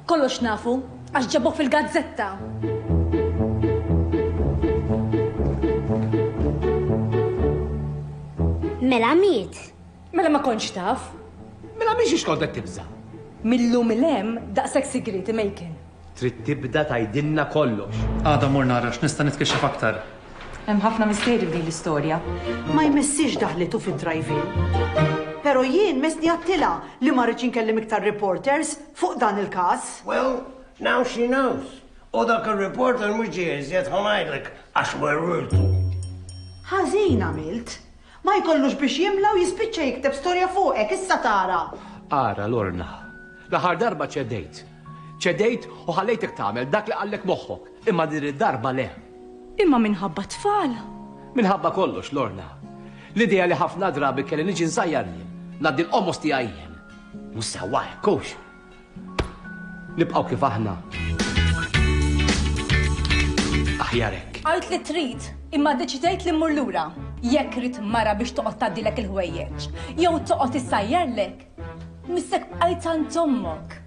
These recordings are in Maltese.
Kollox nafu, għax ġabok fil-gazzetta. Mela miet. Mela ma konċ taf. Mela miex ix kontet tibza. Millum il-em daqsek sigriti mejken. Trid tibda tgħidilna kollox. Għada mmur nara x'nista' nitkixxef aktar. Hemm ħafna misteri f'din l-istorja. Ma jmissiex daħlitu fid-drive-in. Pero jien messni għattilha li ma rridx inkellem iktar reporters fuq dan il-każ. Well, now she knows. U dak ir-reporter mhux ġie iżjed ħa ngħidlek għax werwirtu. Ħażin għamilt. Ma jkollux biex jimla u jispiċċa jikteb storja fuqek, issa tara! Ara, Lorna, l-aħħar darba ċedejt. Ċedejt u ħallejtek tagħmel dak li qallek moħħok, imma din id-darba le. Imma minħabba t-tfal! Minħabba kollox, Lorna. L-idea li ħafna drabi kelli niġi nżajjar jien, ngħaddi l-qomos tiegħi jien. Mhux sewwa hekk, hux? Nibqgħu kif aħna. Aħjar hekk. Għajt li trid, imma deċidejt li mmur lura. Jekk rid mara biex toqgħod tgħaddilek il-ħwejjeġ, jew toqgħod issajjarlek, missek bqajt għand ommok.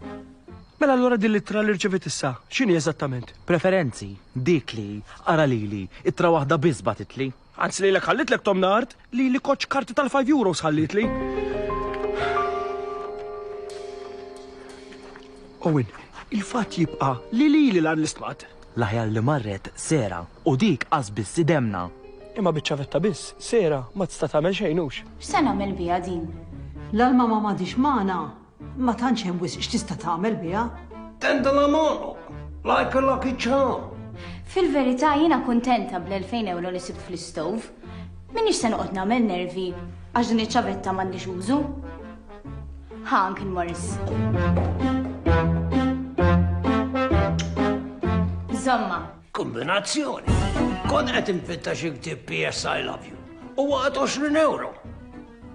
Mela allura din l-ittra li rċevit issa, x'inhi eżattament? Preferenzi, dik li, ara lili, ittra waħda biss batitli. Anzi lilek ħallitlek Tom Nard, lili koċ karti tal-5 euros ħallitli. Owen, il-fatt jibqa' li lili lan l-istmat. L-aħjar li marret sera u dik qas biss idemna. Imma biċ-ċavetta biss, sera ma tista' tagħmel xejn hux. X'se nagħmel biha din? L-alma ma madix magħna. Ma tantx hemm wisq x'tista' tagħmel biha. Tenda la mono, like a lucky charm. Fil-verità jiena kuntenta bl-2000 ewro li sibt fl-istove. M'iniex se noqgħod nagħmel nervi għax din iċ-ċavetta m'għandix użu. Ħa Uncle Morris. Żomma. Kombinazzjoni. Kont qed infitta xi ktieb PS I Love You. Huwa għad 20 ewro.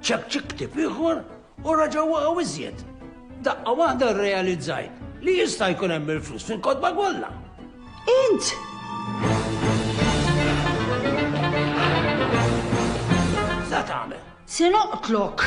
Ċek ċik ktieb ieħor U raġaw waqgħu iżjed. Daqqa waħda rrealizzajt li jista' jkun hemm il-flus fil-kotba kollha. Int! Sa tagħmel. Se noqtlok.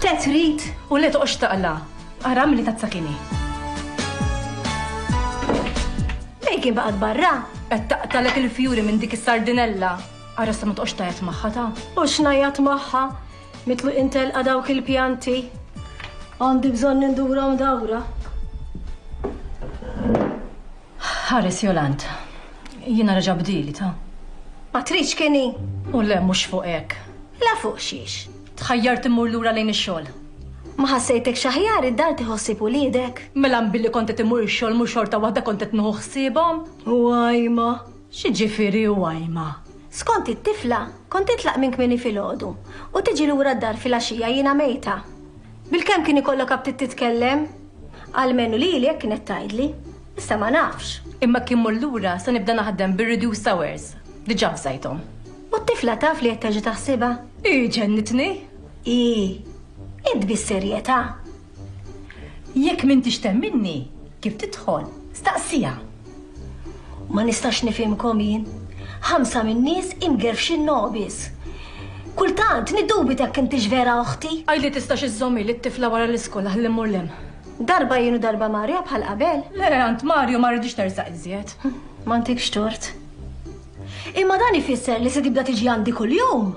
Te trid u le toqgħodx taqla'. Ara milli tazza kien hi. Fejn kien baqgħet barra? Qed taqtalek il-fjuri minn dik is-sardinella. Ara sa ma toqgħodx tajjat magħha ta. U x'ngħajjat magħha? Mitlu intelqa dawk il-pjanti. Għandi bżonn nindurhom dawra. Ħares Jolant. Jiena reġa' bdieli, ta. Ma tridx kien hi? U le mhux fuq hekk. La fuq xiex? Tħajjart immur lura lejn ix-xogħol. Ma ħassejtekx aħjar id-dar tieħu ħsieb uliedek? Mela mbilli kont qed immur ix-xogħol mhux xorta waħda kont qed nieħu ħsiebhom? U għajma? X'jiġifieri u għajma? Skont it-tifla, kont titlaq minn kmieni filgħodu u tiġi lura d-dar filgħaxija jiena mejta. Bilkemm kien ikollok aptit titkellem? Almenu lili hekk kienet tgħidli. Issa ma nafx. Imma jekk immur lura se nibda naħdem bir-reduced hours. Diġà avżajthom. U t-tifla taf li qed terġa' taħsibha? Hi ġennitni! Hi! Int bis-serjetà? Jekk m'intix temminni, kif tidħol, staqsiha. Ma nistax nifhimkom jien. Ħamsa min-nies imgerfxin nobis. Kultant niddubita jekk intix vera oħti. Għidli tistax iżżomm ili t-tifla wara l-iskola ħalli mmur l-hemm. Darba jien u darba Mario bħal qabel. Le, għand Mario ma rridx tersaq iżjed. M'għandikx tort. Imma dan ifisser li se tibda tiġi għandi kuljum.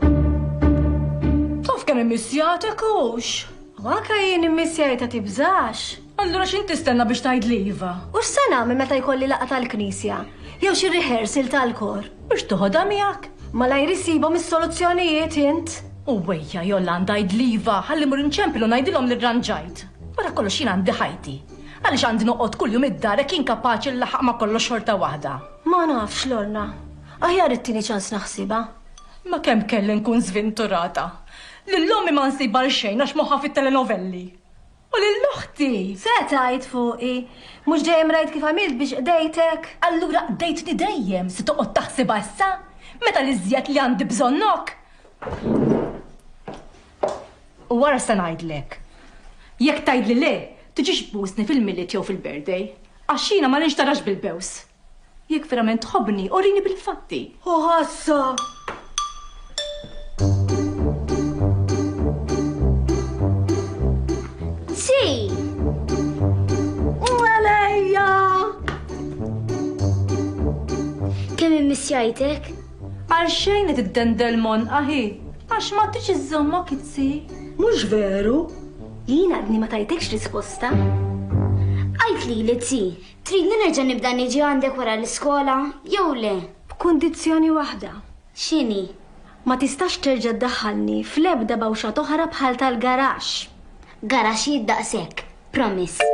Taf kemm immissjatek hux? U anke jien immissjajta tibżax. Allura x'int tistenna biex tgħidli iva? U x'se nagħmel meta jkolli laqgħa tal-Knisja? Jew xi rehearsal tal-kor? Mhux toħodha miegħek? Malajr issibhom is-soluzzjonijiet int! U wejja, Jolanda, għidli iva, ħalli mmur inċempel u ngħidilhom li rranġajt. Wara kollox jien għandi ħajti. Għaliex għandi noqgħod kuljum id-dar hekk inkapaċi nlaħħaq ma' kollox xorta waħda? Ma nafx, Lorna. Aħjar ittini ċans naħsibha. Ma kemm kelli nkun żvinturata! Lil ommi ma nsibha għal xejn għax moħħha fit-telenovelli. U lil oħti! Se tgħid fuqi? Mhux dejjem rajt kif għamilt biex qdejtek? Allura qdejtni dejjem, se toqgħod taħsibha issa? Meta l-iżjed li għandi bżonnok! U wara se ngħidlek. Jekk tgħidli le, tiġix tbusni fil-Milied jew fil-Birthday. Għax jiena ma nixtarax bil-bews. Jekk verament tħobbni, urini bil-fatti. Hu jgħidlek? Għal xejn qed iddendel mon aħi, għax ma tix iżżomma kitzi. Mhux veru? Jien għadni ma tajtekx risposta. Għajt li li tzi, Tridni nerġa' nibda niġi għandek wara l-iskola jew le? B'kundizzjoni waħda. X'inhi? Ma tistax terġa' ddaħħalni fl-ebda bawxa t'oħra bħal tal-garaxx. Garaxxijiet daqshekk. Promise.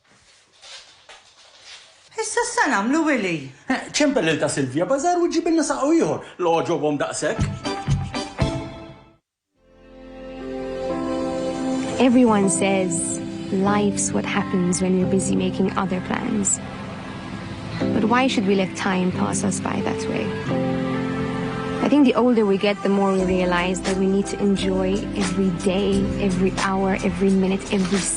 Issa x'se nagħmlu Willie? Eħ, ċempel lil ta' Silvia Bazaar u ġġibilna saqgħu ieħor, l-għoġobhom daqshekk! Everyone says life's what happens when you're busy making other plans. But why should we let time pass us by that way? I think the older we get, the more we realize that we need to enjoy every day, every hour, every minute, every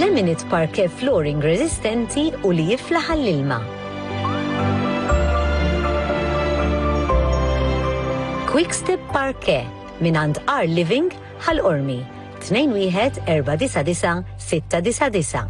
Laminate parquet flooring reżistenti u li jiflaħ għall-ilma. Quick-step parquet mingħand Our Living, Ħal Qormi, 21499 699.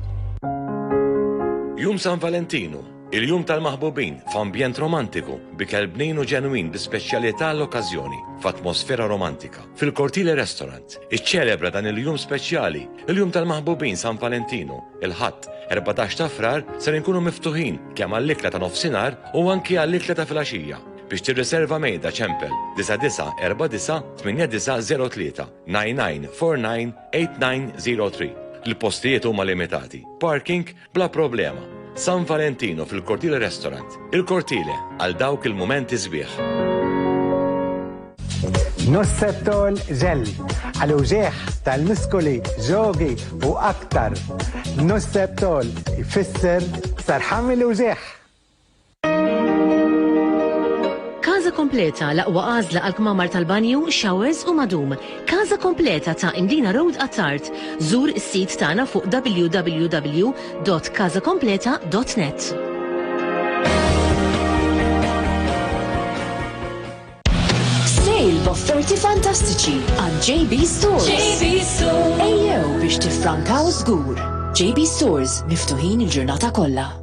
Jum San Valentinu, Il-Jum tal-Maħbubin, f'ambjent romantiku, b'ikel bnin u ġenwin bi speċjalità għall-okkażjoni, f'atmosfera romantika. Fil-Cortile Restaurant, iċċelebra dan il-jum speċjali, il-Jum tal-Maħbubin San Valentinu, il-Ħadd, 14 ta' Frar, ser inkunu miftuħin kemm għall-ikla ta' nofsinhar u anki għall-ikla ta' filgħaxija. Biex tirriserva mejda ċempel 99498903 99498903. Il-postijiet huma limitati. Parking Bla problema. San Valentino fil-Cortile Restaurant. Il-Cortile għal dawk il-mumenti sbieħ. Nossetol ġell, għal uġieħ tal-miskoli, ġogi u aktar. Nossetol ifisser sarħam il-uġieħ. Każa kompleta l-aqwa għażla għal kmamar tal-banju, showers u madum. Każa kompleta ta' Indina Road Attard. Żur is-sit tagħna fuq www.kazakompleta.net. Sale b'offerti fantastiċi għand JB Stores. JB Stores. Ejjew biex tiffrankaw żgur. JB Stores miftuħin il-ġurnata kollha.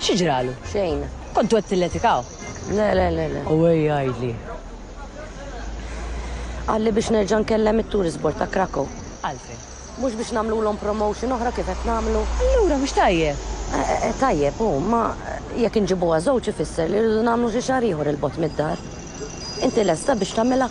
Xi ġralu? Xejn. Kontu qed tilletikaw? Le, le, le, le. U ej għajdli. Għalli biex nerġa' nkellem it-tourist board ta' Krakow. Għalfejn? Mhux biex nagħmlulhom promotion oħra kif qed nagħmlu. Allura mhux tajjeb. Eh, eh, eh, tajjeb, u ma jekk inġibuha żewġ ifisser li rridu nagħmlu xi xahar ieħor il-bot mid-dar. Inti lesta biex tagħmilha?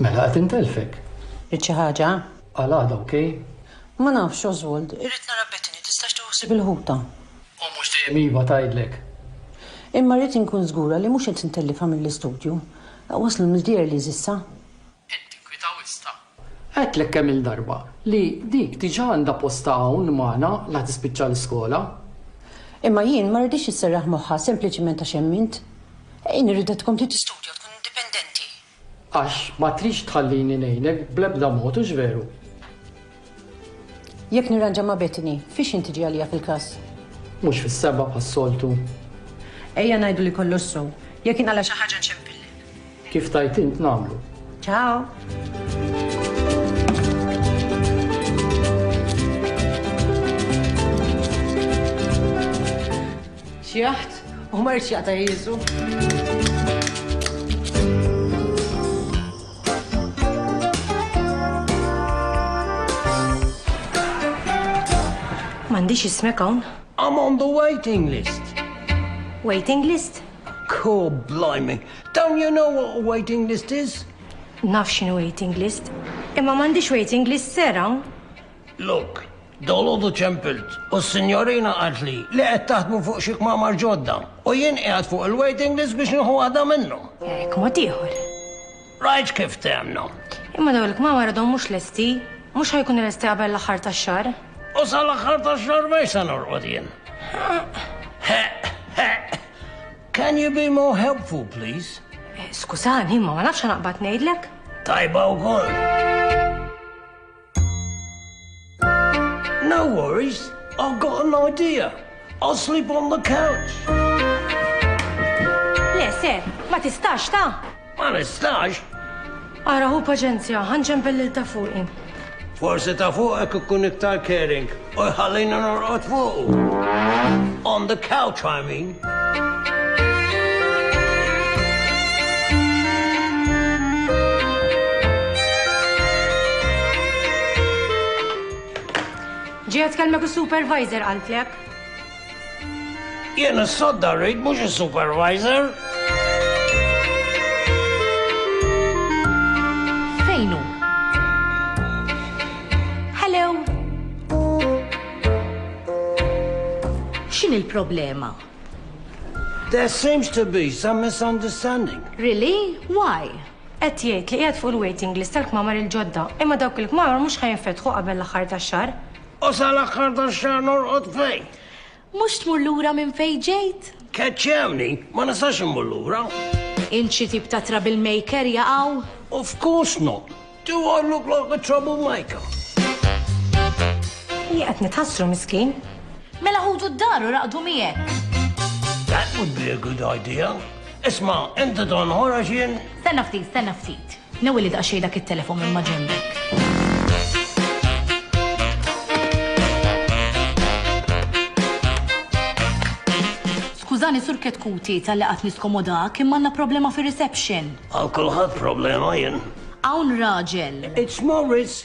Mela qed intelfek. Rid xi ħaġa? Għal għada ok? Ma nafx, Oswald. Irrid nara Bettany, tistax tieħu ħsieb il-ħuta? U mhux dejjem iva tgħidlek. Imma rrid inkun żgura li mhux qed intellifha mill-istudju. Waslu Msdier Liz issa? Qed tinkwita wisq ta. Għedtlek kemm-il darba li dik diġà għandha postha hawn magħna la tispiċċa l-iskola. Imma jien ma rridhiex isserraħ moħħha sempliċiment għax hemm int. Hi nirridha tkompli tistudja u tkun indipendenti. Għax ma tridx tħallini ngħinek bl-ebda mod, hux veru? Jekk nirranġa ma' Bethany, fiex int tiġi għalija fil-klass? Mhux fis-sebgħa bħas-soltu. Ejja ngħidu li kollox sew. Jekk inqala' xi ħaġa nċempillek. Kif tgħid int nagħmlu. Ciao! Xi jaħt u ma jridx jaqta' jiżu. M'għandix ismek hawn? I'm on the waiting list. Waiting list? Cool, blimey. Don't you know what a waiting list is? Naf x'inhu waiting list, imma m'għandix waiting list ser hawn. Look, dalgħodu ċempilt u s-sinjorina qaltli li qed taħdmu fuq xi kmamar ġodda u jien qiegħed fuq il-waiting list biex nieħu waħda minnhom. Hekk mod ieħor. Rajt kif temna. Imma dawn il-kmamar għadhom mhux lesti. Mhux ħa jkunu lesti qabel l-aħħar tax-xahar. U sal-aħħar tax-xahar mhux se norqod jien. Ħeq, ħeq. Can you be more helpful, please? Eh, skużani, imma ma nafx naqbad ngħidlek. Tajba wkoll. No worries, I've got an idea. I'll sleep on the couch. Le, se, ma tistax ta? Ma nistax. Ara hu paċenzja, ħanġen bellil ta' fuqi. Forsi ta' fuqek ikun iktar caring. U jħallini norqod fuqu. On the couch, I mean. Ġiet kelmek il-supervisor għaltlek. Jien is-sodda rrid mhux is-supervisor. Fejn hu? Hello! X'inhi l-problema? There seems to be some misunderstanding. Really? Why? Qed jgħid li qiegħed fuq il-waiting list tal-kmamar il-ġodda, imma dawk il-kmamar mhux ħa jinfetħu qabel l-aħħar tax-xahar. U sal-aħħar tax-xahar norqod fejn? Mhux tmur lura minn fejn ġejt? Keċċewni, ma nistax immur lura. Int xi tip ta' trouble maker jaqaw? Of course not! Do I look like a trouble maker? Hi qed nitħassru miskin. Mela ħudu d-dar u raqdu miegħek. That would be a good idea. Isma', inti tonħor għax jien. Stenna ftit, stenna ftit. Newwili daqsxejn dak it-telefon minn maġembek. Skużani Sur Ketkuti talli qatt niskomodak imma għandna problema fir-reception. Għal kulħadd problema jien. Hawn raġel. It's Morris!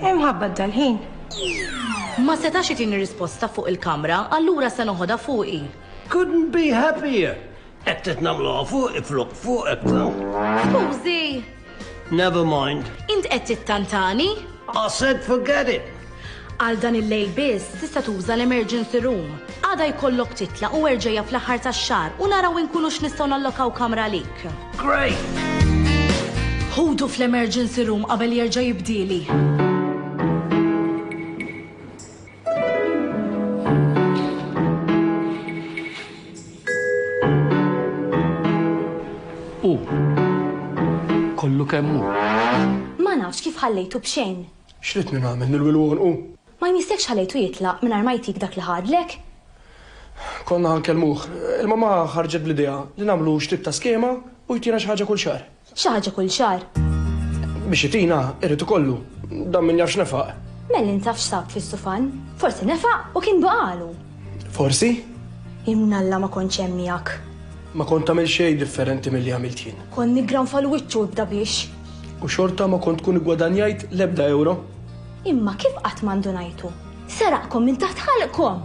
Hemm ħabbat dal-ħin. Ma setax itini risposta fuq il-kamra, allura se noħodha fuqi. Couldn't be happier! Hekk trid nagħmluha fuqi flok fuqek. Skużi! Never mind. Int qed tittantani? I said forget it! Għal dan il-lejl biss tista' tuża l-emergency room. Għada jkollok titlaq u erġajja fl-aħħar tax-xahar u naraw inkunu x'nistgħu nallokaw kamra għalik. Great! Ħudu fl-emergency room qabel jerġa' jibdieli. Hu kollu kemm hu. Ma nafx kif ħallejtu b'xejn. X'ridni nagħmel nilwilwonqu? Ma jmissek x'ħalejtu jitlaq mingħajr ma jtik dak li ħadlek? Konna ħa nkellmuh. Il-mamà ħarġet bl-idea li nagħmlu x'tip ta' skema u jtina xi ħaġa kull xahar. X'ħaġa kull xahar? Biex itina, irid ikollu. Dan min jaf x'nefaq. Mellin taf x'sab fl-istufan. Forsi nefaq u kien baqagħlu. Forsi? Imnalla ma kontx hemm miegħek. Ma kont tagħmel xejn differenti milli għamilt jien. Kont niggranfa l-wiċċ u ibda biex. U xorta ma kont tkun iggwadanjajt l-ebda ewro. Imma kif qatt ma ndunajtu? Seraqkom minn taħt ħalqkom!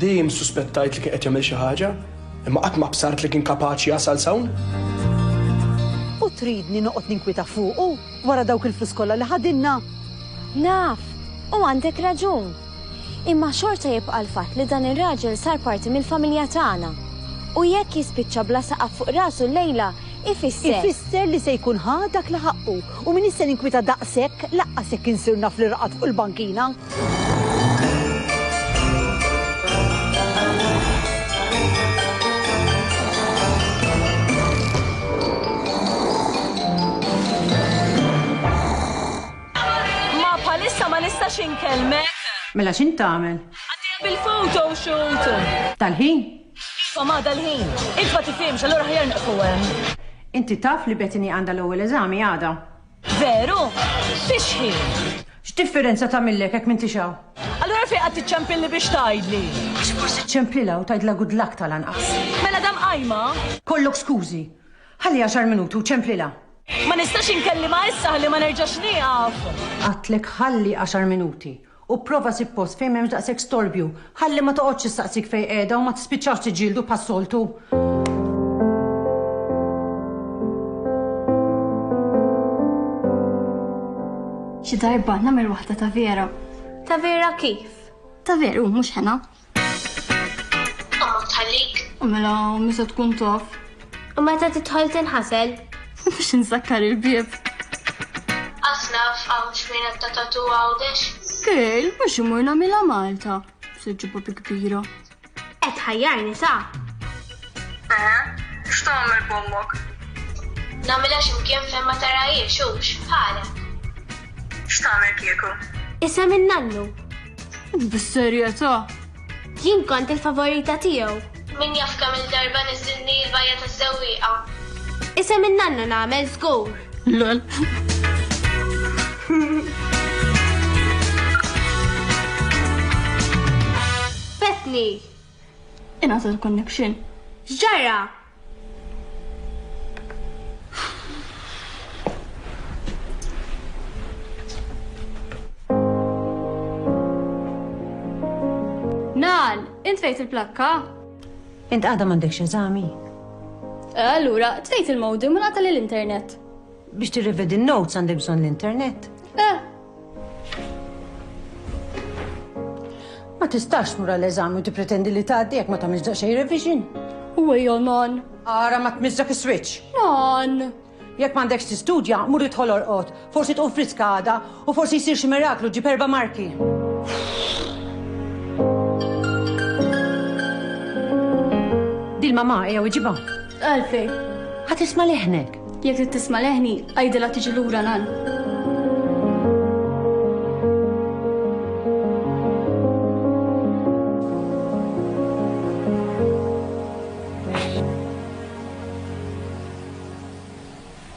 Dejjem issuspettajt li kien qed jagħmel xi ħaġa, imma qatt ma bsart li kien kapaċi jasal s'hawn. U tridni noqgħod ninkwieta fuqu wara dawk il-flus kollha li ħadilna? Naf, u għandek raġun. Imma xorta jibqa' l-fatt li dan ir-raġel sar parti mill-familja tagħna. U jekk jispiċċa bla saqaf fuq rasu llejla, ifisser. Ifisser li se jkun ħa dak li ħaqqu u m'iniex se ninkwieta daqshekk lanqas jekk insir naf li raqad fuq il-bankina. nistax inkellmek. Mela x'int tagħmel? Għaddejja bil-photo shoot. Tal-ħin? Iva ma dal-ħin. Int ma tifhimx, allura ħajar neqfu hemm. Inti taf li Bethany għandha l-ewwel eżami għada? Veru? Fix-xħin? X'differenza tagħmillek hekk m'intix hawn? Allura fejn qed tiċċempilli biex tgħidli? Għax forsi ċċempilha u tgħidla good luck tal-anqas. Mela dam qajma? Kollok skużi. Ħalli għaxar minuti u ċċempilha. Ma nistax inkellimha issa ħalli ma nerġax nieqaf. Għadtlek ħalli għaxar minuti u pprova ssib post fejn m'hemmx daqshekk storbju, ħalli ma toqgħodx issaqsik fejn qiegħda u ma tispiċċawx tiġġieldu bħas-soltu. Xi darba nagħmel waħda ta' vera. Ta' vera kif? Ta' veru, mhux hena. Omok tħallik. U mela u misa tkun tof. U meta tidħol tinħasel. U biex insakkar il-bieb. Qatt naf hawn x'wienet ta' tatu Għawdex. Girl, mhux imur nagħmilha Malta. Se ġġib papi kbira. Qed tħajjarni sa. Eħe, x'tagħmel b'ommok? Nagħmilha xi mkien fejn ma tarahiex hux, bħalek. X'tagħmel kieku? Isem in-nannu. Bis-serjetà? Jien kont il-favorita tiegħu. Min jaf kemm il-darba niżżilni l-bajja tas-sewwieqa. Isem in-nanna nagħmel żgur. Lol. Fetni! Ingħata l-connection. X'ġara? Nal, int fejt il-plakka? Int għada m'għandekx eżami? Eh, allura, tfejt il-modem u nagħta l-internet. Biex tirrivedi n-notes għandi bżonn l-internet. Eh, Ma tistax mura l-eżami u tippretendi li tgħaddi jekk ma tagħmilx daqsxejn revision. U ejja non. Ara ma tmiżżak is-switch. Non. Jekk m'għandekx tistudja, mur idħol orqod. Forsi tqum friska għada u forsi jsir xi miraklu ġib erba' marki. Dil mama ejja iġibha. Għalfej. Ħadd isma' leħnek. Jekk trid tisma' leħni, għidilha tiġi lura nan.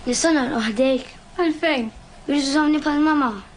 Nistana l-oħdejk? Għalfejn? Biex użawni pal-mama.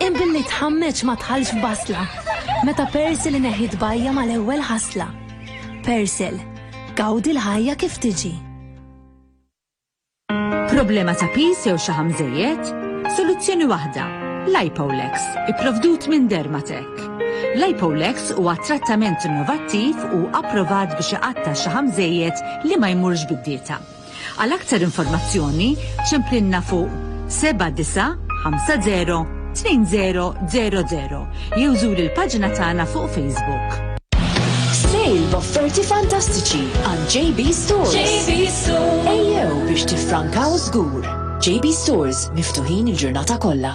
Hemm billi tħammeġ ma tħallx f'basla, meta Persil ineħħi tbajja' mal-ewwel ħasla. Persil, gawdi l-ħajja kif tiġi. Problema ta' piż jew xaħam żejjed? Soluzzjoni waħda, Lipolex, ipprovdut minn Dermatec. Lipolex huwa trattament innovattiv u approvat biex iqatta' x-xaħam żejjed li ma jmurx bid-dieta. Għal aktar informazzjoni ċemplinna fuq 79502000 jew żur il-paġna tagħna fuq Facebook. Sale b'offerti fantastiċi għand JB Stores. JB Stores. Ejjew biex tifrankaw żgur. JB Stores miftuħin il-ġurnata kollha.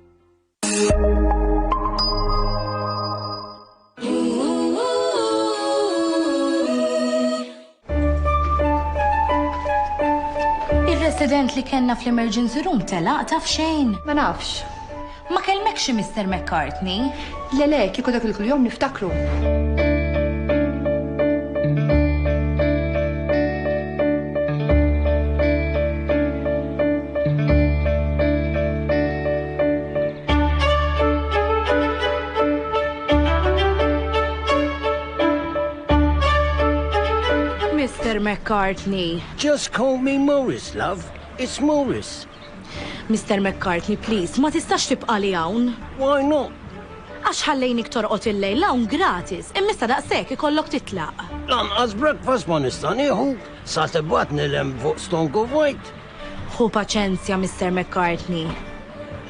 Il-resident li kellna fl-emergency room telaq taf xejn. Ma nafx. Ma kelmekx Mr. McCartney? Le le, kieku dak il-kull jom niftakru. Mister McCartney. Just call me Maurice, love. It's Maurice. Mister McCartney, please, ma tistax tibqali hawn! Why not? Għax ħallejnik torqod il-lejl hawn gratis, immissa daqshekk ikollok titlaq. Lanqas breakfast ma nista' nieħu, sa tibgħatni 'l hemm fuq Stonk of Wight! Ħu paċenzja, Mister McCartney.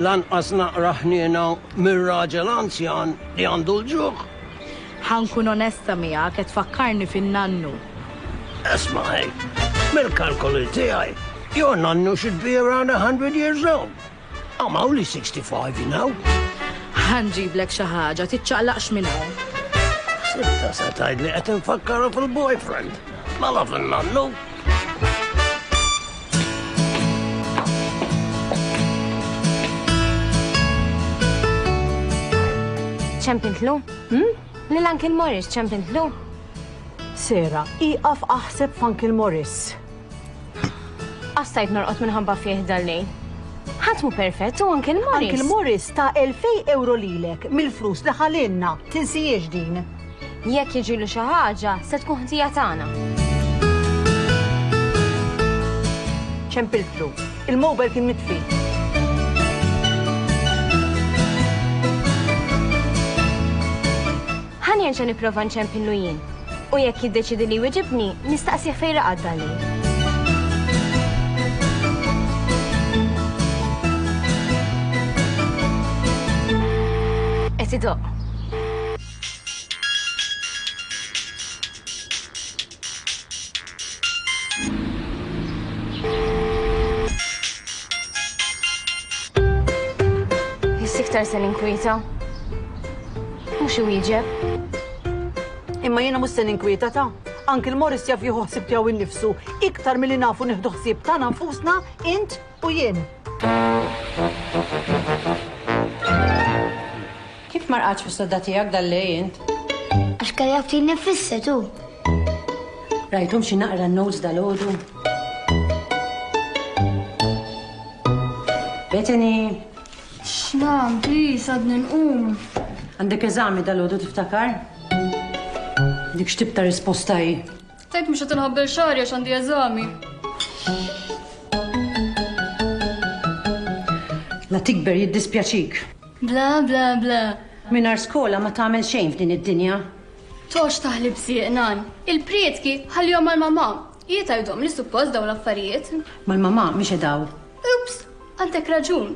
Lanqas naqra ħniena mir-raġel anzjan li għandu l-ġuħ! Ħa nkun onesta miegħek, qed tfakkarni fin-nannu. Isma' ħin, mill-kalkoli tiegħi, your nannu should be around a hundred years old. I'm only sixty five, you know. Ħa nġiblek xi ħaġa, tiċċaqlaqx minn hawn. Ħsibtha se tgħidli qed infakkarha fil-boyfriend. Mela fin-nannu. Ċempintlu? Hm? Lil Uncle Morris ċemp intlu? Sera, ieqaf aħseb f'Uncle Morris. Qastajt norqod minħabba fih dal-lejl. Ħadd mhu perfett u Uncle Morris. Uncle Morris ta' 2000 euro lilek mill-flus li ħalinna, tinsijiex din. Jekk jiġilu xi ħaġa, se tkun ħtija tagħna. ċempiltlu. Il-mobile kien mitfi. Ħa nerġa' nipprova nċempillu jien. U jekk jiddeċiedi li jwiġibni, nistaqsih fejn raqad dal-lejl. Qed idoqq. Biss iktar se ninkwieta. Mhux iwieġeb. Imma jiena mhux se ninkwieta ta'. Anki l-Morris jaf jieħu ħsieb tiegħu innifsu iktar milli nafu nieħdu ħsieb tagħna nfusna int u jien. Kif ma rqadx fis-sodda tiegħek dal-lejl int? Għax kelli għattin nifisset hu. Rajthom xi naqra n-notes dalgħodu? Bethany! X'mam, please, għadni nqum. Għandek eżami dalgħodu tiftakar? Dik x'tip ta' risposta hi? Tgħid mhux qed inħabbel xagħri għax għandi eżami. La tikber jiddispjaċik. Bla bla bla. Minar skola ma tagħmel xejn f'din id-dinja. Tox taħli bsieq nan. Il-prietki ħallihom mal-mamà. Hi tgħidhom li suppost dawn l-affarijiet. Mal-mamà mhix edaw. Ups, għandek raġun.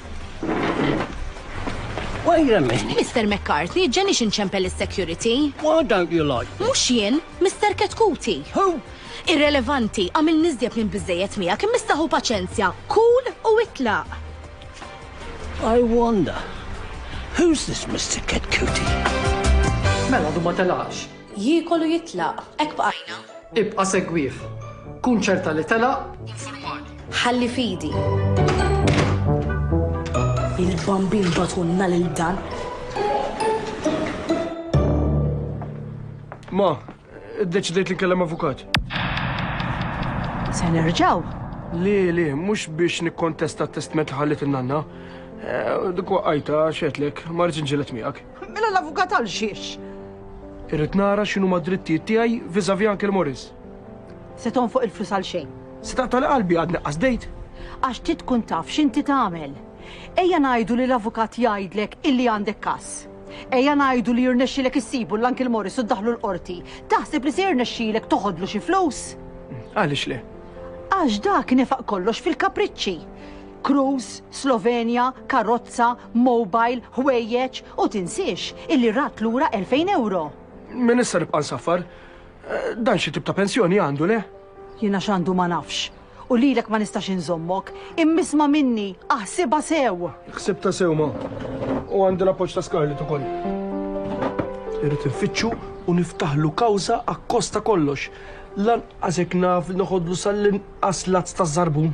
Wait a minute. Mr. McCarthy, ġenix inċempel is-security. Why don't you like me? Mux jien, Mr. Ketkuti. Who? Irrelevanti, għamil nizjed minn bizzejet mija, kim mistaħu paċenzja, cool u itla. I wonder, who's this Mr. Ketkuti? Mela, du ma telaqx. Jiekol u jitlaq. Hekk bqajna. Ibqa' segwih. Kun ċerta li telaq u nfurmani. Ħalli f'idi. Il-Bambin bagħtulna lil dan. Ma, iddeċidejt li nkellem avukat. Se nerġgħu? Le, le, mhux biex nikkontesta t-testment li ħalliet in-nanna. Eh, Dik waqqajta, xedlek, ma rridx inġieled miegħek. Mela l-avukat għal xiex? Irrid nara x'inhu ma' drittijiet tiegħi viżavi Uncle Morris. Se tonfoq il-flus għal xejn. Se taqtali qalbi għad neqqas dejt. Għax ti tkun taf x'inti tagħmel. Ejja ngħidu li l-avukat jgħidlek illi għandek każ. Ejja ngħidu li jirnexxilek issibu l-Uncle Morris u ddaħlu l-qorti. Taħseb li se jirnexxilek toħodlu xi flus? Għaliex le? Għax dak nefaq kollox fil-kapriċċi. Cruise, Slovenia, karozza, mobile, ħwejjeġ u tinsiex illi rat lura 2000 euro. Min issa nibqa' nsaffar? Eh, dan xi tip ta' pensjoni għandu le? Jiena x'għandu ma nafx. U lilek ma nistax inżommok, immisma minni, aħsibha sew. Ħsibta sew ma. U għandi l-appoġġ ta' Scarlett ukoll. Irrid infittxu u niftaħlu kawża akkosta kollox. Lanqas hekk naf noħodlu sal-inqas lazz ta' żarbun.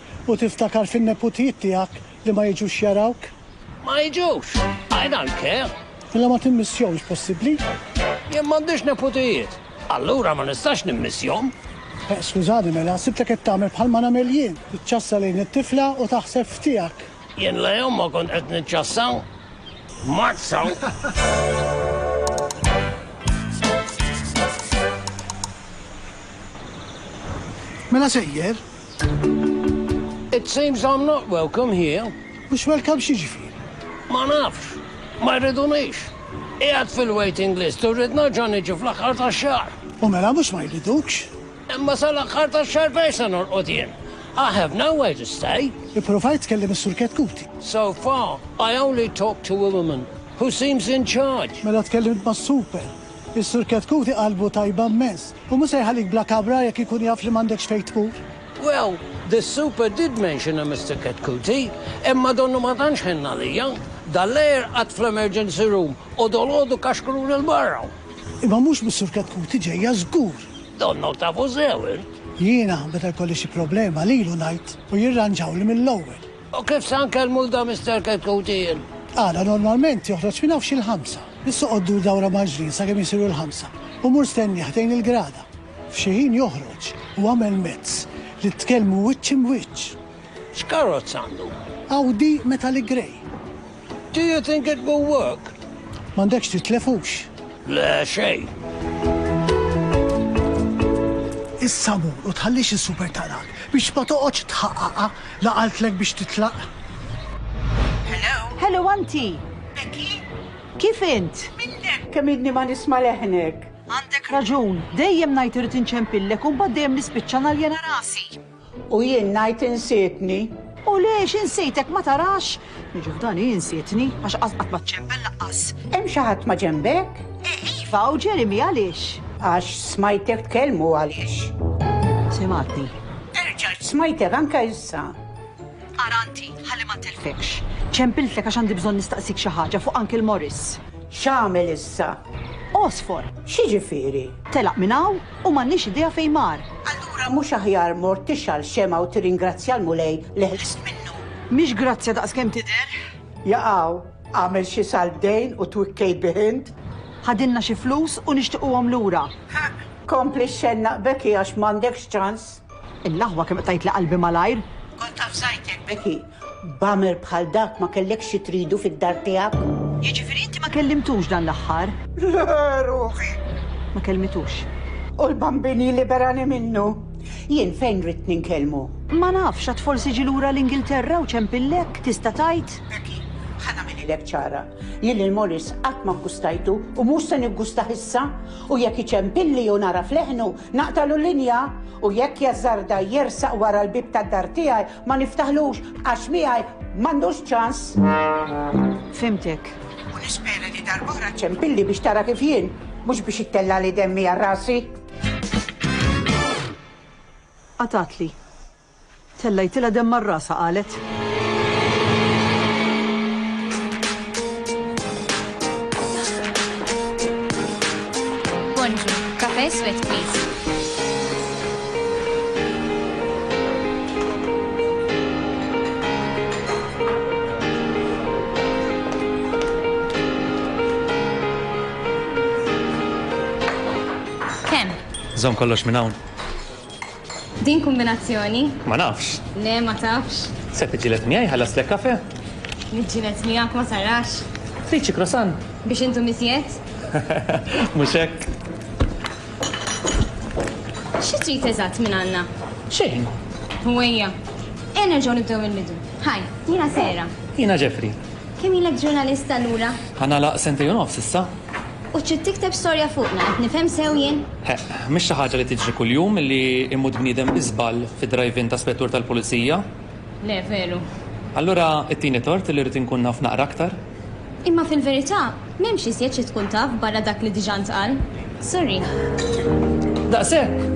u tiftakar fin-neputijiet tiegħek li ma jiġux jarawk? Ma jiġux! I don't care! Mela ma timmissjomx, possibbli? Jien m'għandix neputijiet, allura ma nistax nimmissjom! Eh, skużani mela, sibtek qed tagħmel bħal ma nagħmel jien, tiċċassa lejn it-tifla u taħseb f'tiegħek! Jien la jum ma kont qed niċċassa! Mazza! Mela sejjer, It seems I'm not welcome here. Mhux welcome x'jiġifieri? Ma nafx. Ma jridunix. Qiegħed fil-waiting list u rrid nerġa' niġi fl-aħħar tax-xahar. U mela mhux ma jridukx? Imma sal-aħħar tax-xahar fejn se norqod jien? I have nowhere to stay. Ippruvajt tkellem is-Sur Ketkuti? So far, I only talked to a woman who seems in charge. Mela tkellimt mas-super? Is-Sur Ketkuti qalbu tajba mmens. U mhu se jħallik bla kabra jekk ikun jaf li m'għandekx fejn tmur. Well, the super did mention a Mister Ketkuti, imma donnu ma tantx ħenn għalija. Dal-lejl qgħadt fl-emergency room u dolodu kaxkruni 'l barra. Imma mhux mis-Sur Ketkuti ġejja żgur. Donnok tafu sew int. Jiena, meta jkolli xi problema, lilu ngħid u jirranġawli mill-ewwel. U kif se nkellmu 'l dan Mister Chetcuti jien? Għada normalment joħroġ minn hawn xi l-ħamsa. Biss oqgħod dur dawra mal-ġnien sakemm isiru l-ħamsa u mur stennieh ħdejn il-grada. F'xi ħin joħroġ u agħmel mezz li tkellmu wiċċ im'wiċċ. X'karozza għandu? Audi Metallic Grey. Do you think it will work? M'għandekx titlef hux? Le xejn. Issa mur u tħallix is-super tarak biex ma toqgħodx tħaqqaqha la qaltlek biex titlaq. Hello? Hello anti! Becky? Kif int? Minnek? Kemm inni ma nisma' leħnek. Għandek raġun, dejjem ngħid irid inċempillek u mbagħad dejjem nispiċċa naljena rasi. U jien ngħid insietni. U lix insejtek ma tarax? Niġi f'dan hi insietni, għax qatt qatt ma ċċempel laqqas. Hemm xi ħadd maġenbek? Iva, u Jeremy għaliex? Għax smajtek tkellmu u għaliex. Simgħatni. Terġa' smajtek anke issa. Ara inti, ħalli ma ntilfekx. Ċempiltlek għax għandi bżonn nistaqsik xi ħaġa fuq Uncle Morris. X'għamel issa? Għosfor. X'jiġifieri? Telaq minn hawn? u m'għandniex idea fejn mar. Allura mhux aħjar mort tixgħal xemgħa u tirringrazzja l-Mulej li ħlist minnu? Mhix grazzja daqskemm tidher. Jaqaw, Agħmel xi salt dejn u twikkej bih int. Ħadilna xi flus u nixtiquhom lura. Kompli xxennaq b'hekk hi għax m'għandekx ċans. Il-laħwa kemm qtgħidli qalbi malajr. Kont taf żgħidtek Becky, b'għamel bħal dak ma kellekx xi tridu fid-dar tiegħek. Jiġifieri inti ma kellimtux dan l-aħħar? Le, ruħi. Ma kellmitux. U l-Bambini liberani minnu. Jien fejn ridt ninkellmu? Ma nafx, għad forsi ġie lura l-Ingilterra u ċempillek, tista' tgħid? Becky, ħa nagħmililek ċara. Jien lil Maurice qatt ma ggustajtu u mhux se niggustah issa. U jekk iċempilli u nagħraf leħnu, Naqtagħlu linja u jekk jażżarda jersaq wara l-bieb tad-dar tiegħi ma niftaħlux għax miegħi m'għandux ċans. Fhimtek. U nispera li darb'oħra ċċempilli biex tara kif jien, mhux biex ittellagħli demmi għal rasi. Qatatli. Tellgħitilha demm għal rasha qalet. Bonġu, kafe' iswed please. Kemm? Żomm kollox minn hawn. Din kumbinazzjoni. Ma nafx. Le, ma tafx. Se tiġġieled miegħi ħallaslek kafe? Niġġieled miegħek ma sarax. Trid xi croissant? Biex intom iżjed? Mhux hekk. Xi trid eżatt minn għandna? Xejn. U ejja. Ejja nerġgħu nibdew mill-bidu. Hi, jiena Sarah. Jiena Jeffrey. Kemm ilek ġurnalist allura? Ħa nagħlaq sentejn u nofs issa. U trid tikteb storja fuqna, qed nifhem sew jien? Heq, mhix xi ħaġa li tiġri kuljum li jmut bniedem bi żball fid-drive-in ta' spettur tal-pulizija. Le, veru. Allura ittini tort li rrid inkun naf naqra aktar? Imma fil-verità, m'hemmx iżjed xi tkun taf barra dak li diġà ntqal. Sorry. Daqshekk!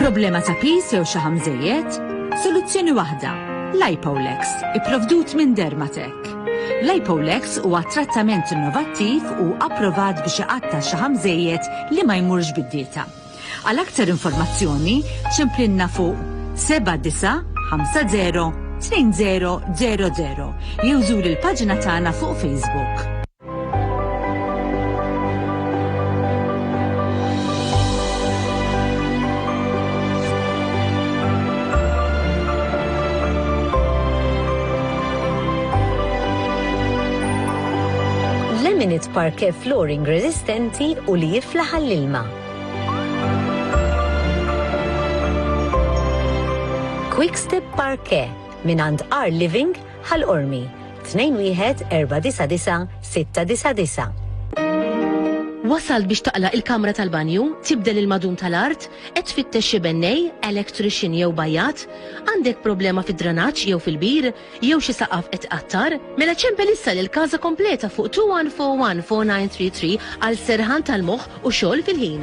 Problema ta' pis jew xi ħamżejjed? Soluzzjoni waħda. Lipolex, ipprovdut minn Dermatec. Lipolex huwa trattament innovattiv u approvat biex iqatta' xi ħamżejjed li ma jmurx bid-dieta. Għal aktar informazzjoni, ċemplinna fuq 7950 2000 jew żur il-paġna tagħna fuq Facebook. Lemonade Parquet Flooring resistenti u li jiflaħ għall-ilma. Quick Step Parquet minn għand R Living Ħal Qormi, 2149699. Wasalt biex taqla' il-kamra tal-banju, tibdel il-madum tal-art, qed tfittex xi bennej, electrician jew bajjat, għandek problema fid-dranaġġ jew fil-bir, jew xi saqaf qed iqattar? Mela ċempel issa lil Casa Completa fuq 2141 4933 għal serħan tal-moħħ u xogħol fil-ħin.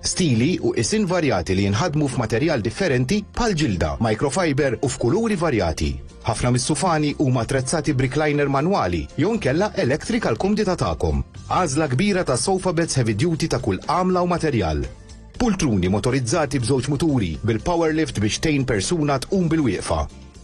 Stili u qisien varjati li jinħadmu f'materjal differenti bħall-ġilda, microfiber u f'kuluri varjati. Ħafna mis-sufani huma attrezzati b'recliner manwali jew inkella electric għall-kumdità tagħkom. Għażla kbira ta' sofa beds heavy duty ta' kull għamla u materjal. Pultruni motorizzati b'żewġ muturi bil-power lift biex tgħin persuna tqum bilwieqfa.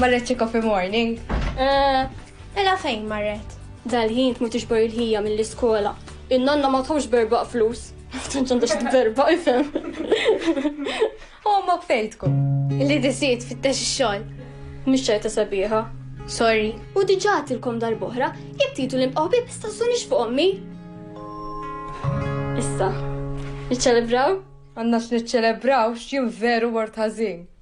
Marret xi coffee morning? Eh, ela fejn marret? Dal-ħin tmur tixbor il-ħija mill-iskola. In-nonna ma tħux berbaq flus. Tanċ għandha xi berba ifhem. Omok fejtku. Li disiet fit-tex xogħol. Mhix ċajta sabiħa. Sorry. U diġà tilkom dal-boħra, jekk titu l-imqaw bib stazzunix fuq ommi. Issa, niċċelebraw? Għanna x'niċċelebraw x'jien veru wart ħażin.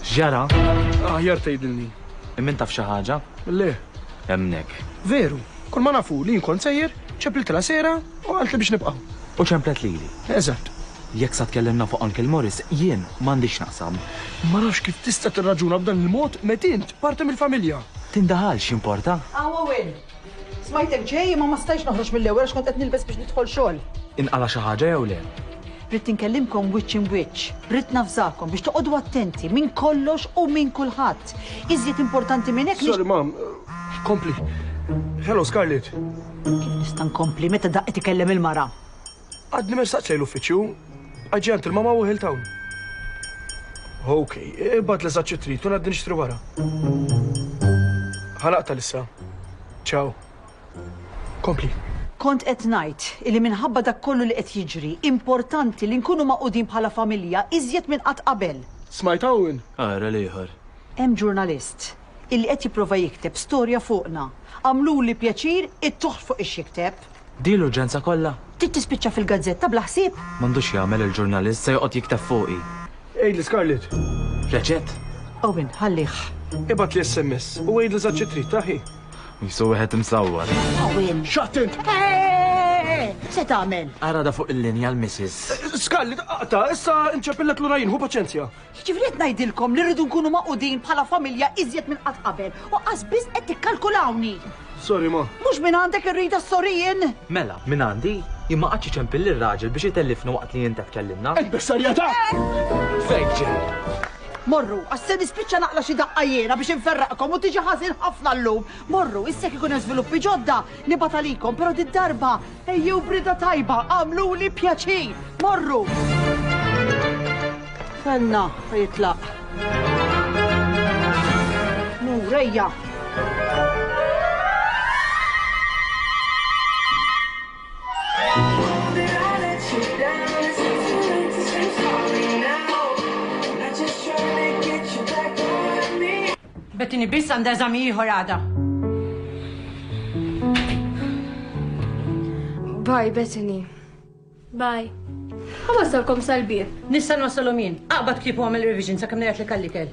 X'ġara? Aħjar tgħidilni. Hemm min taf xi ħaġa? Le. Hemmnek. Veru. Kull ma naf hu li jien kont sejjer, ċempliltilha sejra u qaltli biex nibqa'. U ċemplet lili. Eżatt. Jekk sa tkellimna fuq Uncle Morris, jien m'għandix x'naqsam. Ma nafx kif tista' tirraġuna b'dan il-mod meta int parti mill-familja. Tindaħalx, jimporta? Hawn hawn. Smajtek ġej imma ma stajtx noħroġ mill-ewwel għax kont qed nilbes biex nidħol xogħol. Inqala' xi ħaġa jew le? Ridt inkellimkom wiċċ im'wiċċ. Ridt navżakom biex toqogħdu attenti minn kollox u minn kulħadd. Iżjed importanti minn hekk. Sorry mam, kompli. Hello Scarlett. Kif nista' nkompli meta daqqiet ikellem il-mara? Għadni ma staqt lejn l-uffiċċju. I gentle ma ma u Hilltown. Ok, ibad li zaċċi trid, kun għadni nixtri wara. Ħanaqta lissa. Ciao. Kompli. Kont qed ngħid li minħabba dak kollu li qed jiġri, importanti li nkunu maqudin bħala familja iżjed minn qatt qabel. Smajt hawn? Ara l-ieħor. Hemm ġurnalist illi qed jipprova jikteb storja fuqna. Għamluli pjaċir ittuh fuq ix jikteb. Din l-urġenza kollha? Trid tispiċċa fil-gazzetta bla ħsieb? M'għandux jagħmel il-ġurnalist, se joqgħod jikteb fuqi. Għidli Scarlett. Reċett? Owen, ħallih. Ibgħatli SMS u għidli eżatt xi trid, aħi? Qisu wieħed imsawwar. Owen. X'għadt int? Se tagħmel? Ara da fuq il-linja l-Missis. Scarlett, aqta, issa nċeppillek lura jien, ħu paċenzja. Jiġifieri qed ngħidilkom li rridu nkunu magħqudin bħala familja iżjed minn qatt qabel u qas biss qed tikkalkulawni! Sorry ma. Mhux minn għandek irrida s-sorry jien! Mela, minn għandi, jien ma qgħadtx iċempil lir-raġel biex itellifna waqt li int qed tkellimna! Int bis-serjetà! Fejn ġejt? Morru, għax se nispiċċa naqla' xi daqqa jiena biex inferraqkom u tiġi ħażin ħafna llum! Morru, issa jekk ikun hemm żviluppi ġodda, nibgħat għalikom, però did-darba Ejjew b'rieda tajba, agħmluli pjaċir, morru! Kellna ta' jitlaq. Mur, ejja! Bettini biss għandha eżami ieħor għada. Bye, Bettini. Bye. Għawasalkom sal-bib. Nista' nwasalhom jien. Aqbad ktibu għamil revision sa' kemm li għallikel.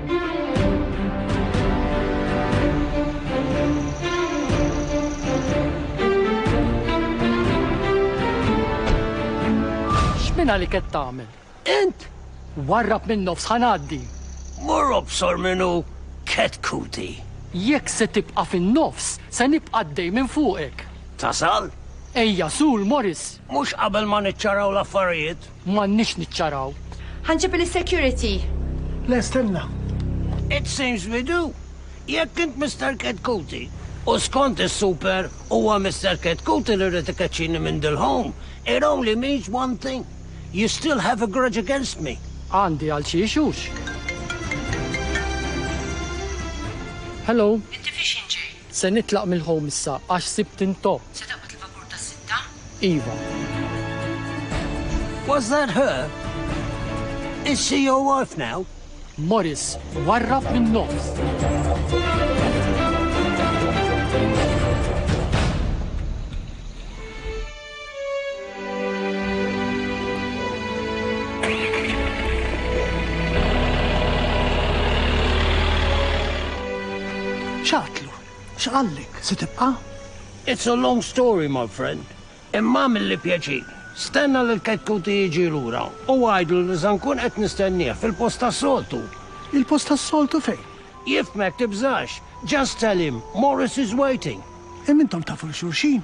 X'mina li qed tagħmel? Int! Warrab min-nofs ħa ngħaddi! Mur obsor min hu Cat Cutie! Jekk se tibqa' fin-nofs, se nibqa' għaddej minn fuqek! Tasal? Ejja, Sul, Morris! Mhux qabel ma niċċaraw l-affarijiet? M'għandniex niċċaraw. Ħa nġib il-security. Le stenna. It seems we do. Jekk int Mister Ketkuti, u skont is-super huwa Mister Ketkuti li ried ikeċċini minn dil-home, it only means one thing, you still have a grudge against me. Għandi għal xi issues. Hello. Inti fiex inġej? Se nitlaq mill-home issa għax sibt intop. Se taqbad il-vapur tas-sitta? Iva. Was that her? Is she your wife now? Morris warrab min-nofs. ċatlu, x'qallek, se tibqa'? It's a long story, my friend. Imma mill-li pjaċir. Stenna li l-ketkuti jiġi lura u għajdu li se nkun qed nistennieh fil-post tas-soltu. Il-post tas-soltu fejn? Jifhmek tibżax. Just tell him Morris is waiting. Imma intom tafu 'l xulxin?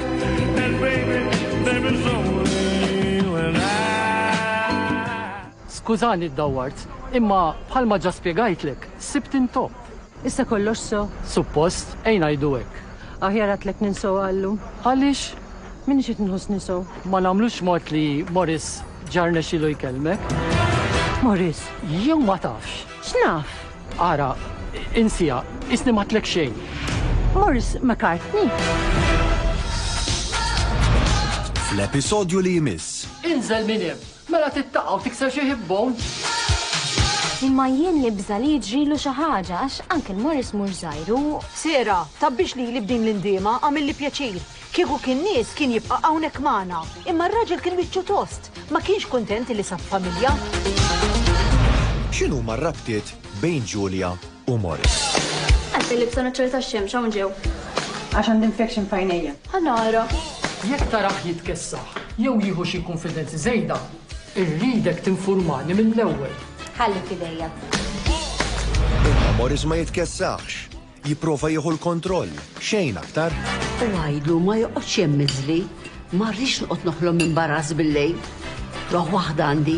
Skużani ddawwart, imma bħalma ġa spjegajtlek, sibt intop. Issa kollox sew? Suppost, ejn ngħidu hekk. Aħjar għadtlek ninsew għallu. Għaliex? M'iniex qed inħossni sew. Ma nagħmlux mod li Maurice ġa rnexxielu jkellmek. Maurice? Jew ma tafx? X'naf? Ara, insiha, qisni m'għadtlek xejn. Morris McCartney. Fl-episodju li jmiss. Inżel minn hemm! Mela tittaqa' u tikser xi hip bone? Imma jien nibża' li jiġrilu xi ħaġa għax Uncle Morris mhux żgħir u. Sarah, tgħabbix lili b'din l-indiema, għamilli pjaċir. Kieku kien nies kien jibqa' hawnhekk magħna, imma r-raġel kien wiċċu tost, ma kienx kuntent li sab familja. X'inhuma r-rabtiet bejn Julia u Morris? Għax kelli bżonn iċċerta x-xemx hawn ġew. Għax għandi infection f'għajnejja. Ħa nara. Jekk tarah jitkessaħ jew jieħu xi kunfidenzi żejda, irridek tinfurmani mill-ewwel. Ħalli f'idejja. Imma Morris ma jitkessaħx. Jipprova jieħu l-kontroll, xejn aktar. U għidlu ma joqgħodx hemm miżli, ma rridx noqgħod noħlom minn baraż bil-lejl. Ruħ waħda għandi.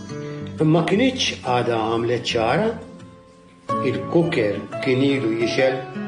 Ma kinitx għadha għamlet ċara, il-cooker kien ilu jixgħel.